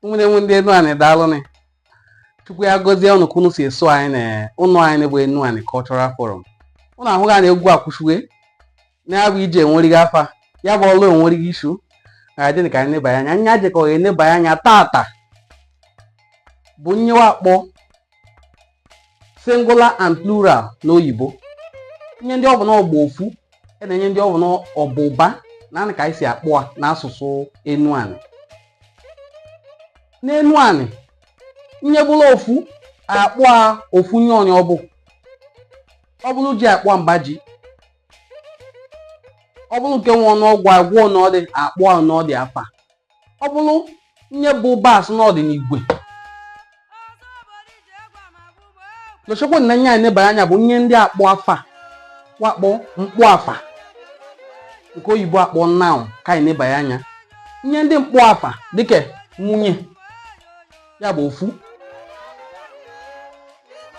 nwere nwe ndị enu anị daalụnị chukwu ya gọzie ụnụ ka ụnụ si eso anyị na ụnọ anyị bụ enu anị cultural forum ụnụ ahụga na egwu akwụshịwe na ya bụ ije enwerighị afa ya bụ ọlụ enwerighị isu ga-adị ka anyị nebanye anya anyị jekọ enebanye anya tata bụ nye wa akpọ singular and plural n'oyibo nye ndị ọ bụ na ọ gba ofu e na nye ndị ọ bụ na ọ ba ụba naanị ka anyị si akpọ a n'asụsụ enu anị n'enu anị nye bụrụ ofu akpọ a ofu nye onye ọ bụ ọ bụrụ ji akpọ mba ji ọ bụrụ nke nwe ọnụọgụ a gụọ ọnụ ọ dị akpọ ọnụ ọ dị afa ọ bụrụ nye bụ ụba sị na ọ dị n'igwe lechekwa na nye anyị nebanye anya bụ nye ndị akpọ afa wa akpọ mkpọ afa nke oyibo akpọ noun ka anyị nebanye anya nye ndị mkpọ afa dịka nwunye ya bụ ofu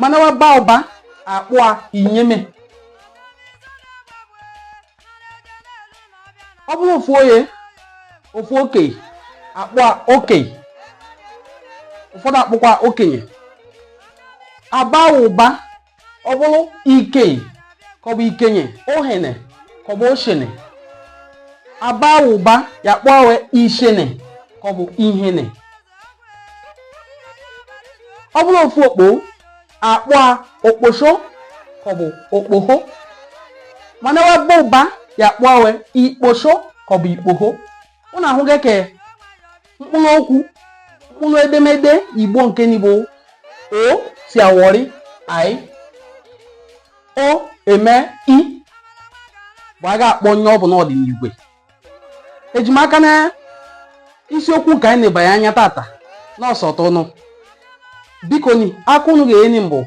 mana waba ụba akpụa inyeme ọ bụrụ ofu onye ofu okei akpọ okei ụfọdụ akpọkwa okenye aba ụba ọ bụrụ ikei ka ọ bụ ikenye ohene ka ọ bụ oshene aba ụba ya kpọwe ishene ka ọ bụ ihene ọ bụrụ ofu okpo akpọ a okposho ka ọ bụ okpoho mana wa ba ụba ya akpọ we ikposho ka ọ bụ ikpoho ụnụ ahụga ka mkpụrụ okwu mkpụrụ edemede igbo nke nị bụ o si awọrị i o eme i bụ a ga-akpọ nye ọ bụ na ọ dị n'igwe eji m aka na isiokwu nke anyị nebanye anya tata na ọ sọtụ ụnụ biko nị aka ụnụ ga-enye m bụ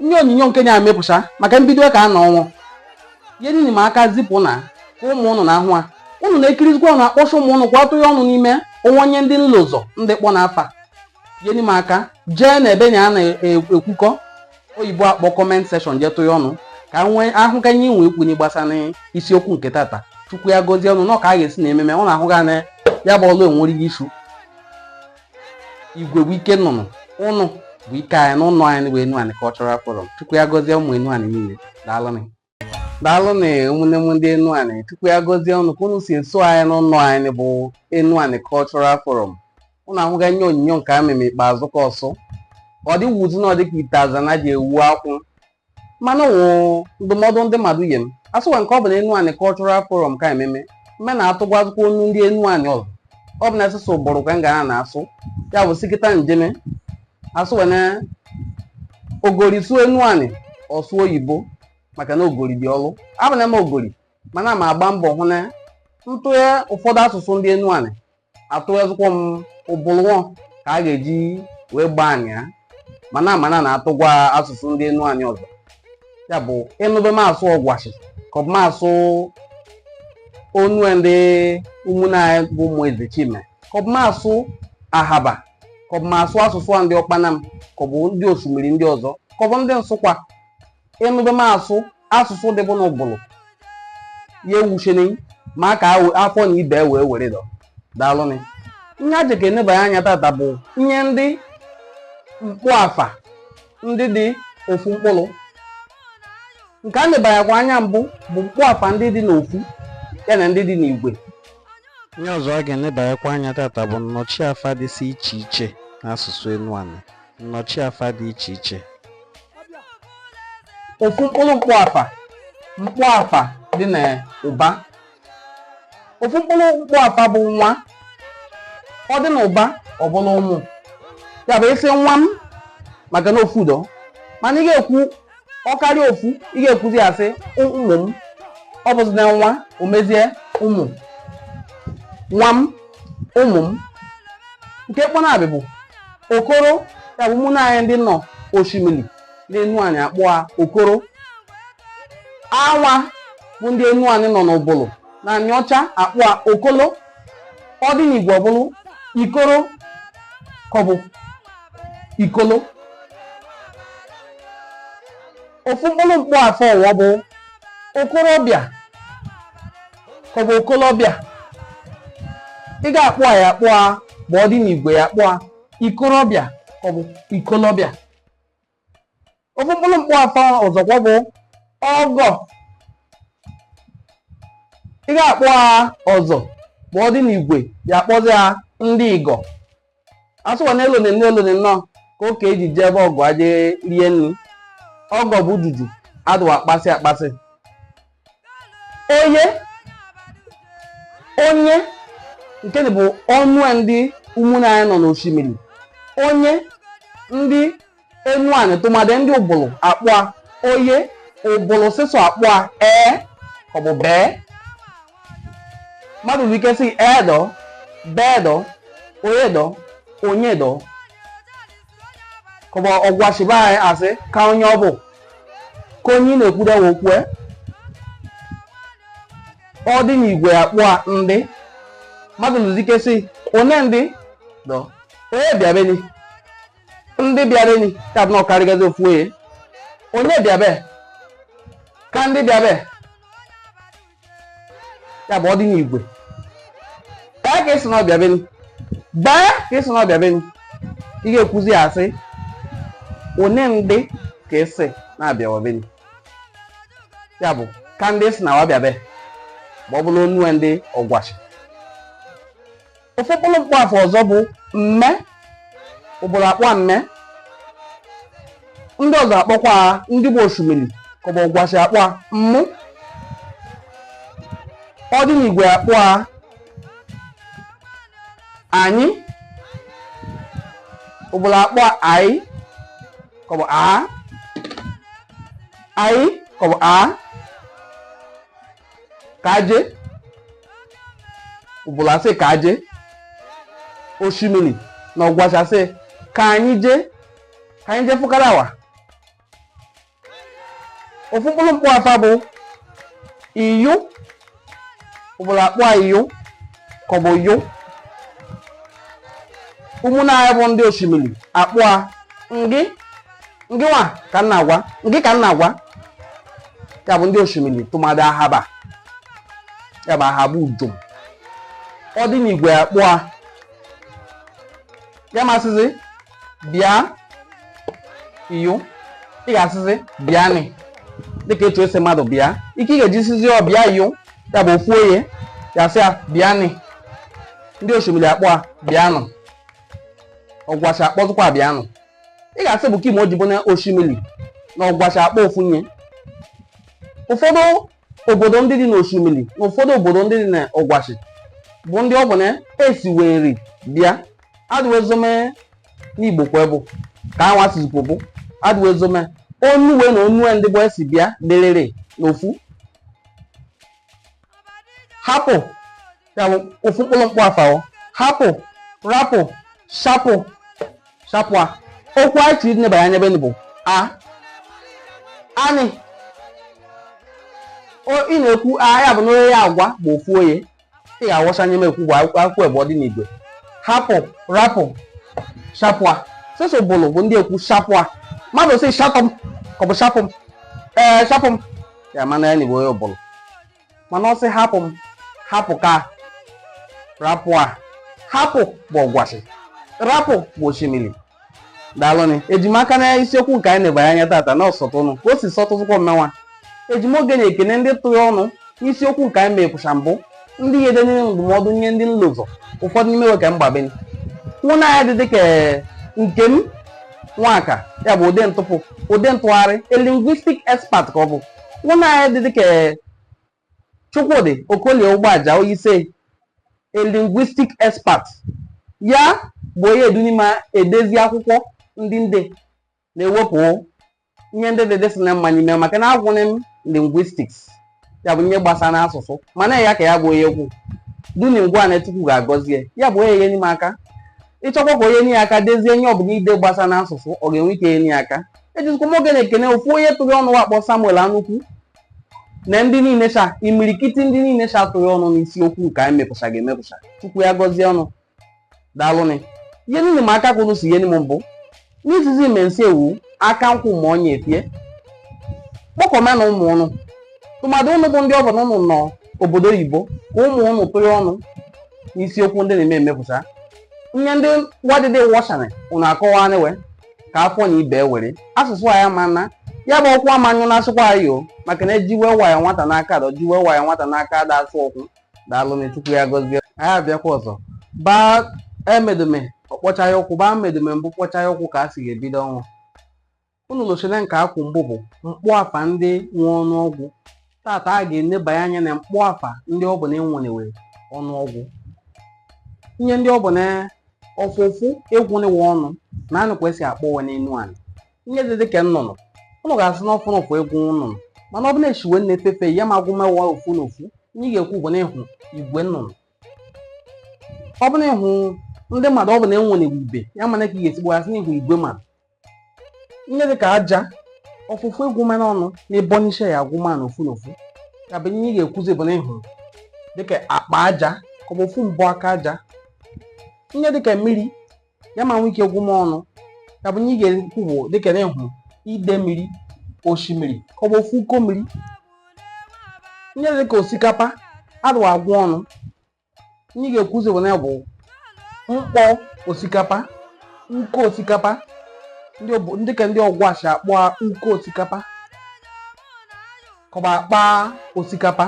nye onyinyo nke na-amepụcha maka mbido ka a na ọnwụ ihe nini ma aka zipụ na ka ụmụ ụnụ na-ahụ ha ụnụ na-ekirizikwa ụnụ akpọcha ụmụ ụnụ kwatụ ya ọnụ n'ime o nwe nye ndị m lọzọ ndị kpọ na afa ihe nime aka jee na ebe nị a na-ekwukọ oyibo akpọ comment section je tụnye ọnụ ka m wee hụ ka ihe i nwe ikwu na gbasara isiokwu nke tata chukwu ya gọzie ụnụ na ka a ga-esi na ememe ụnụ ahụga na ya bụ ọlụ enwerighị isu igwe bụ ike nnụnụ ụnụ bụ ike anyị na ụnọ anyị bụ enu anị cultural forum chukwu ya gọzie ụmụ enu anị niile daalụ daalụnị ụmụnne m ndị Enuani Chukwu ya gọzie unu ka unu si eso anyị n'ụlọ anyị bụ Enuani Cultural Forum unu ahụga ihe onyonyo nke m meme ikpeazụ ka ọsụ ọ dị wuzi na ọ dịka ite azana ji ewu akwụ mana wụ ndụmọdụ ndị mmadụ nye m asụwa nke ọ bụ na Enuani Cultural Forum ka ememe mme na-atụgwazikwa onu ndị Enuani ọzọ ọ bụ na asụsụ Ubulu ka m ga na-asụ ya bụ sikịta njeme asụ wee na ogori sụọ Enuani ọ sụọ oyibo maka na ogori dị ọrụ abụ na m ogori mana ma agba mbọ hụ na m tụye ụfọdụ asụsụ ndị Enuani atụyezikwa m Ubulu ọ ka a ga-eji wee gbaa anyị ya mana mana na-atụgwa asụsụ ndị Enuani ọzọ ya bụ ịnụbe m asụ Ọgwashi ka ọ bụ m asụ onu ndị ụmụnne anyị bụ ụmụ Eze Chime ka ọ bụ m asụ Ahaba ka ọ bụ m asụ asụsụ wa ndị Ọkpanam ka ọ bụ ndị osimiri ndị ọzọ ka ọ bụ ndị Nsụkwa ịnụbe m asụ asụsụ dịbụ n'Ubulu ya ewucheni maka afọ na ibe wee were dọ daalụnị ihe a jeka enebanye anya tata bụ ihe ndị mkpọafa ndị dị ofu mkpụrụ nke a nebanyekwa anya mbụ bụ mkpọafa ndị dị n'ofu ya na ndị dị n'igwe ihe ọzọ a ga-enebanyekwa anya tata bụ nnọchiafa dịsị iche iche n'asụsụ Enuani nnọchiafa dị iche iche ofu mkpụrụ mkpọafa mkpọafa dị na ụba ofu mkpụrụ mkpọafa bụ nwa ọ dị na ụba ọ bụrụ ụmụ ya bụ ị sị nwa m maka na ofu udo mana ị ga-ekwu ọ karịa ofu ị ga-ekwuzi ya sị ụmụ m ọ bụzi na nwa o mezie ụmụ nwa m ụmụ m nke kpọ nabị bụ okoro ya bụ ụmụnne anyị ndị nọ osimiri na Enuani akpọ a okoro anwa bụ ndị Enuani nọ n'Ubulu na Aniọcha akpọ a okolo ọ dị n'igwe ọ bụrụ ikoro ka ọ bụ ikolo ofu mkpụrụ mkpọafa ọwa bụ okorobịa ka ọ bụ okolobịa ị ga-akpọ a ya akpọ a ma ọ dị n'igwe ya akpọ a ikorobịa ka ọ bụ ikolobịa ofu mkpụrụ mkpọafa ọzọkwa bụ ọgọ ị ga-akpọ a ọgọ ma ọ dị n'igwe ya akpọzi a ndị igọ asụwa na elone nne elone nnọọ ka ụka eji jee be ọgọ aje rie nri ọgọ bụ dudu adụwa akpasị akpasị onye onye nke bụ onue ndị ụmụnne anyị nọ n'oshimili onye ndị enuanị tụmadị ndị ubulu akpọa onye ubulu sịsọ akpọa ee ka ọ bụ bee mmadụ nwere ike sị ee dọ bee dọ onye dọ onye dọ ka ọ bụ ọgwashi be anyị asị ka onye ọ bụ ka onye ị na-ekwude okwu e ọ dị n'igwe akpọa ndị mmadụ lụzike sị one ndị dọ onye bịabeni ndị bịabeni ya bụ na ọ karịgazi ofu onye onye bịabe ka ndị bịabe ya bụ ọ dị n'igwe baa ka ị sị na ọ bịa beni baa ka ị sị na ọ bịa beni ị ga-ekwuzi ya asị one ndị ka ị sị na-abịawa beni ya bụ ka ndị ị sị na wa bịa be ma ọ bụrụ onue ndị ọgwashi ofu mkpụrụ mkpọafa ọzọ bụ mme ubulu akpọa mme ndị ọzọ akpọkwaa ndị bụ oshimili ka ọ bụ ọgwashi akpọa mmụ ọ dị n'igwe akpọa anyị ubulu akpọa anyị ka ọ bụ a anyị ka ọ bụ a kaje ubulu asị kaje oshimili na ọgwashi asị ka anyị jee ka anyị jee fụkara awa ofu mkpụrụ mkpọafa bụ iyo ubulu akpọa iyo ka ọ bụ yo ụmụnna anyị bụ ndị oshimili akpọa ngị ngị nwa ka m na-agwa ngị ka m na-agwa ya bụ ndị oshimili tụmadị ahaba ya bụ ahaba ujom ọ dị n'igwe akpọa ya masịzi bịa iyo ị ga-asịzi bịa nị dịka etu esi mmadụ bịa ike ị ga-eji sịzi ọ bịa iyo ya bụ ofu onye ya sị ya bịa nị ndị oshimili akpọa bịanụ ọgwashi akpọzikwa bịanụ ị ga-asị bụ kị me o ji bụ na oshimili na ọgwashi akpọ ofu ihe ụfọdụ obodo ndị dị n'oshimili na ụfọdụ obodo ndị dị na ọgwashi bụ ndị ọ bụ na esi wee nri bịa adịwezome n'igbo kwa bụ ka anwa sizikwo bụ adịwezome onu we na onue ndị bụ esi bịa dịrịrị n'ofu hapụ ya bụ ofu mkpụrụ mkpụ afa hapụ rapụ shapụ shapụ a okwu anyị chiri nebara anya ebe bụ a anị ị na-ekwu a ya bụ na onye ya agwa bụ ofu onye ị ga-awụsa nye m ekwu bụ akwụkwọ ebe ọ dị n'igwe hapụ rapụ shapụ a sịsọ ụbụlụ bụ ndị ekwu shapụ a mmadụ sị shapụ m ka ọ bụ shapụ m ee shapụ m ya mana ya na igbo onye ụbụlụ mana ọ sị hapụ m hapụ ka rapụ a hapụ bụ ọgwashi rapụ bụ oshimili daalụnị eji m aka na isiokwu nke anyị nebanye anya tata na ọ sọtụ ụnụ ka o si sọtụtụkwa mmenwa eji m oge na-ekene ndị tụrụ ọnụ n'isiokwu nke anyị mepụsa mbụ ndị ihe dị nile ndụmọdụ nye ndị nlụ ụzọ ụfọdụ n'ime we ka m gbabeni nwanne anyị dị dịka Nkem Nwaka ya bụ ụdị ntụpụ ụdị ntụgharị a linguistic expert ka ọ bụ nwanne anyị dị dịka Chukwudi Okolie Ugbaja who is a linguistic expert ya bụ onye eduni m edezi akwụkwọ ndị m de na-ewepụ ihe ndị dị dịsị na mma n'ime maka na agụnị m linguistics ya bụ ihe gbasa na asụsụ mana ya ka ya bụ onye kwudoni m ngwa na chukwu ga-agọzie ya bụ onye enyeni m aka ị chọkwa ka onye nye aka dezie ihe ọbụla i de gbasa na asụsụ ọ ga-enwe ike enye aka ejizikwa m oge na-ekene ofu onye tụrụ ọnụ wa akpọ samuel anukwu na ndị niile sha imirikiti ndị niile sha tụrụ ọnụ n'isiokwu nke anyị mepụchaghị emepụcha chukwu ya gọzie ụnụ daalụnị ihe niile ma aka kwuru si ihe m mbụ n'izizi mensi ewu aka nkwụ ma onye efie kpọkọma na ụmụ ụnụ tụmadụ ụnụ bụ ndị ọ bụ na ụnụ nọ obodo oyibo ka ụmụ ụnụ tụ ọnụ n'isiokwu ndị na-eme emepụsa ihe ndị wa dịdị wọsharị ụnụ akọwanị we ka a fụ na ibe were asụsụ anyị ama na ya bụ ọkwa amanyụ na-asụkwa anyị o maka na ejiwe waya nwata n'aka adọ jiwe waya nwata n'aka ada asụ okwu daalụ na chukwu ya gọzie anyị abịakwa ọzọ baa emedume ọkpọcha ya ụkwụ baa medume mbụ kpọcha ya ụkwụ ka a si ga-ebido ọ wụ unu losa na nke a kwu mbụ bụ mkpụ afa ndị nwe ọnụọgụ tata a ga-enebanye anya na mkpụ afa ndị ọ bụ na enwene we ọnụọgụ ihe ndị ọ bụ na ọ fụ ụfụ ịgụnị we ọnụ na anụ ka a si akpọ we n'Enuanị ihe dị dịka nnụnụ ụnụ ga-asị na ọ fụnụ ụfụ ịgụ nnụnụ mana ọ bụ na-echiwe na-efefe ya ma agụma we ofu na ofu ihe ị ga-ekwu bụ na ị hụ igwe nnụnụ ọ bụ na ị hụ ndị mmadụ ọ bụ na enwere igwe ya mana ka ị ga-esi gbasị na ị hụ igwe mmadụ ihe dịka aja ọ fụ ụfụ ịgụma ọnụ na ịbọnisha ya agụma na ofu na ofu ya bụ ihe ị ga-ekwuzi bụ na ị hụ dịka akpa aja ka ọ bụ ofu mbụ aka aja ihe dịka mmiri ya ma nwee ike gwụ m ọnụ ya bụ nye ị ga-ekwu bụ dịka na ịhụ ide mmiri osimiri ka ọ bụ ofu uko mmiri nye dịka osikapa adụ agwụ ọnụ nye ị ga-ekwuzi bụ na ya bụ mkpọ osikapa uko osikapa dị ka ndị ọgwashi akpọ uko osikapa ka ọ bụ akpa osikapa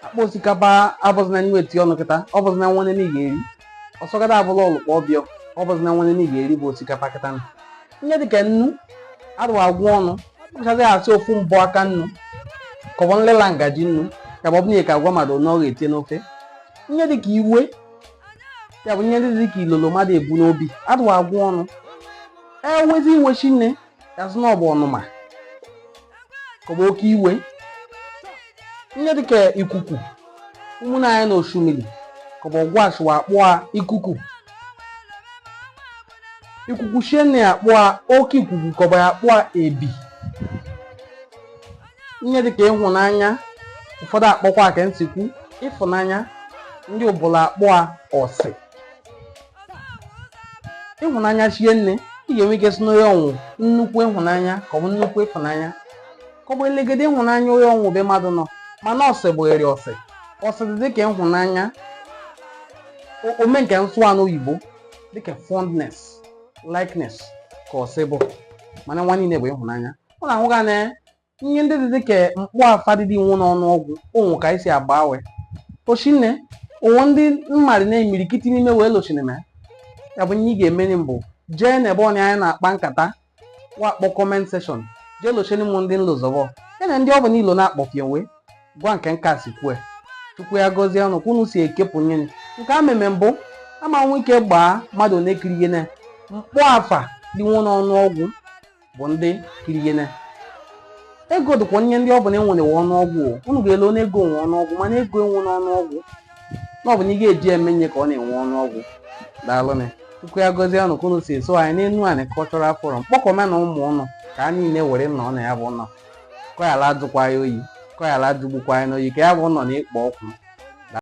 akpa osikapa abụzina nwe eti ọnụ kịta ọ bụzina nwanne na ga eri ọsọgada abụla ọlụkpọ ọbịọ ọ bụzina nwanne na ga eri bụ osikapa kịta na ihe dịka nnu adụwa agwụ ọnụ ọ bụchazi a sị ofu mbọ aka nnu ka ọ bụ nlela ngaji nnu ka ọ bụ nye ka a gwa mmadụ na ọ ga-etinye n'ofe ihe dịka iwe ya bụ ihe ndị dịka ilolo mmadụ ebu n'obi adụwa agwụ ọnụ enwezi iwe shie nne a sị na ọ bụ ọnụma ka ọ bụ oke iwe ihe dịka ikuku ụmụnna anyị na oshimili ka ọ bụ ọgwashi wa akpọa ikuku ikuku shie nne ya akpọa oke ikuku ka ọ bụ ya akpọa ebi ihe dịka ịhụnanya ụfọdụ akpọkwa ka m si kwu ịfụnanya ndị ubulu akpọa ọsị ịhụnanya shie nne ị ga-enwe ike sị na onye a nwe nnukwu ịhụnanya ka ọ bụ nnukwu ịfụnanya ka ọ bụ elegede ịhụnanya onye a nwe ebe mmadụ nọ mana ọsị bụghịrị ọsị ọsị dị dịka ịhụnanya o- ome nke m sụa n'oyibo dịka fondness likeness ka ọsị bụ mana nwa niile bụ ịhụnanya ọ na-ahụga na ihe ndị dị dịka mkpọafa dị nwu n'ọnụọgwụ o nwe ka e si agbanwe o shie nne o nwe ndị mmadụ na-emirikiti n'ime wee lochineme ya bụ ihe ị ga-emeri mbụ jee n'ebe onye anyị na-akpa nkata wa kpọ comment section jee locheni m ndị nlozọbọ ya na ndị ọ bụla ilo na-akpọfie wee gwa nke nka si kwue chukwu ya gọzie unu ka unu si ekepụ nyere nke a meme mbụ a ma nwee ike gbaa mmadụ na-ekiri ihe na mkpọafa dị nwu n'ọnụọgwụ bụ ndị kiri ihe na ego dịkwa onye ndị ọ bụ na enwere nwe ọnụọgwụ unu ga-ele onye ego nwe ọnụọgwụ mana ego enwe n'ọnụọgwụ na ọ bụ na ị ga-eji eme nye ka ọ na-enwe ọnụọgwụ daalụnị chukwu ya gọzie unu ka unu si eso anyị n'enuani cultural forum kpọkọme na ụmụ unu ka a niile were nọ na ya bụ ụlọ kọyala ajụkwa ya oyi kọyala ajụgbukwa ya n'oyi ka ya bụ ụlọ na-ekpo ọkụ